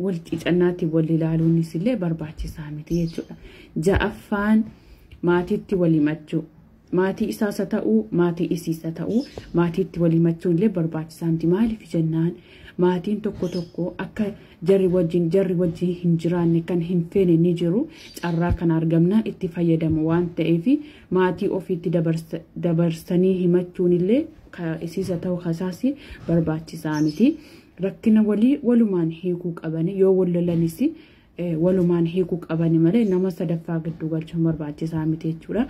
wal cicannaatti wal ilaaluunis illee barbaachisaa miti jechuudha. Ja'affaan maatiitti wal himachuu. Maatii isaas haa ta'u, maatii isiis haa ta'u, maatiitti wal himachuun illee barbaachisaa miti. Maaliif jennaan maatiin tokko tokko akka jarri wajjin jarri wajjin hin jiraanne kan hin feene ni jiru. Carraa kana argamnaan itti fayyadamu waan ta'eef maatii ofiitti dabarsanii himachuun illee isiisa ta'u kasaasi barbaachisaa miti. Rakkina walii walumaan hiikuu qabani yoo wal lolanis walumaan hiikuu qabani malee nama sadaffaa gidduu galchuun barbaachisaa miti jechuudha.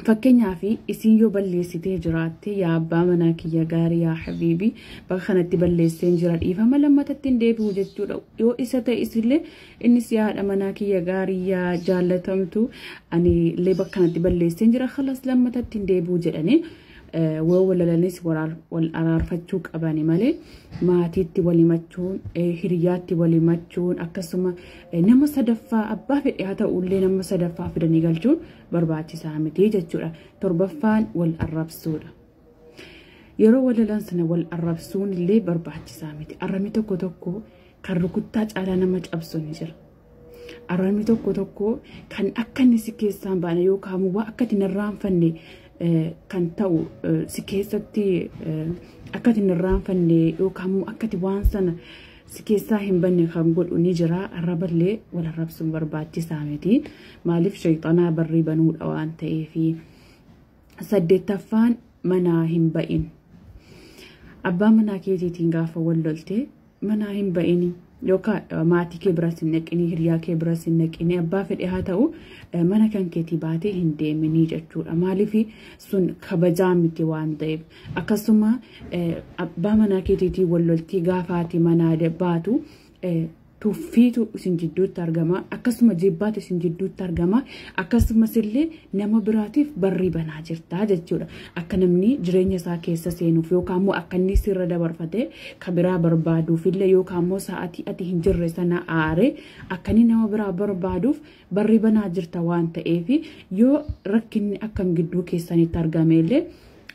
Fakkeenyaaf isiin yoo balleessitee jiraatte yaa abbaa manaa kiyya gaarii yaa habiibii bakka kanatti balleesseen jira dhiifama lammatatti hin deebi'u jechuudha. Yoo isa ta'e isillee innis yaa haadha manaa kiyya gaarii yaa jaallatamtu ani illee bakka kanatti balleesseen jira kalas lammatatti hin deebi'u jedhanii Woo walalanis wal araarfachuu qabani malee maatiitti wal himachuun hiriyaatti wal himachuun akkasuma nama sadaffaa abbaa fedhe haa ta'u illee nama sadaffaa fidanii galchuun barbaachisaa miti jechuudha. Torbaffaan wal arrabsuudha. Yeroo walalan sana wal arrabsuun illee barbaachisaa miti. Arrabni tokko tokko kan rukuttaa caalaa nama cabsu ni jira. Araarmi tokko tokko kan akka inni si keessaan baane yookaan immoo waan akka itti narraanfanne kan ta'u si keessatti akka itti narraanfanne yookaan immoo akka itti waan sana si keessaa hin banne kan godhu ni jira. Arraballee wal arrabsuun barbaachisaa miti. Maaliif shayxanaa barrii banuudha waan ta'eef. Saddeettaffaan manaa hin ba'in. Abbaa manaa keetiitiin gaafa wal lolte manaa hin ba'ini yookaan maatii kee biras hin dhaqini hiriyaa kee biras hin dhaqini abbaa fedhe haa ta'u mana kan keetii baatee hin deeminii jechuudha maaliif sun kabajaa miti waan ta'eef akkasuma abbaa manaa keetiitii wal loltii gaafaati manaa baatu tuffiitu isin jidduutti argama akkasuma jibbaatu isin jidduutti argama akkasumas illee nama biraatiif barrii banaa jirtaa jechuudha. Akka namni jireenya isaa keessa seenuuf yookaan immoo akka inni sirra dabarfatee kan biraa barbaaduuf illee yookaan immoo sa'aatii ati hin jirre sana aaree akka inni nama biraa barbaaduuf barrii banaa jirta waan ta'eef yoo rakkinni akkam gidduu keessanitti argame illee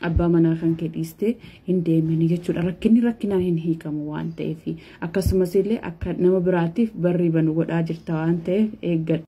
abbaa manaa kan kee dhiistee hin deemini jechuudha. Rakkinni rakkinaan hin hiikamu waan ta'eef akkasumas illee akka nama biraatiif barrii banu godhaa jirta waan ta'eef eeggadha.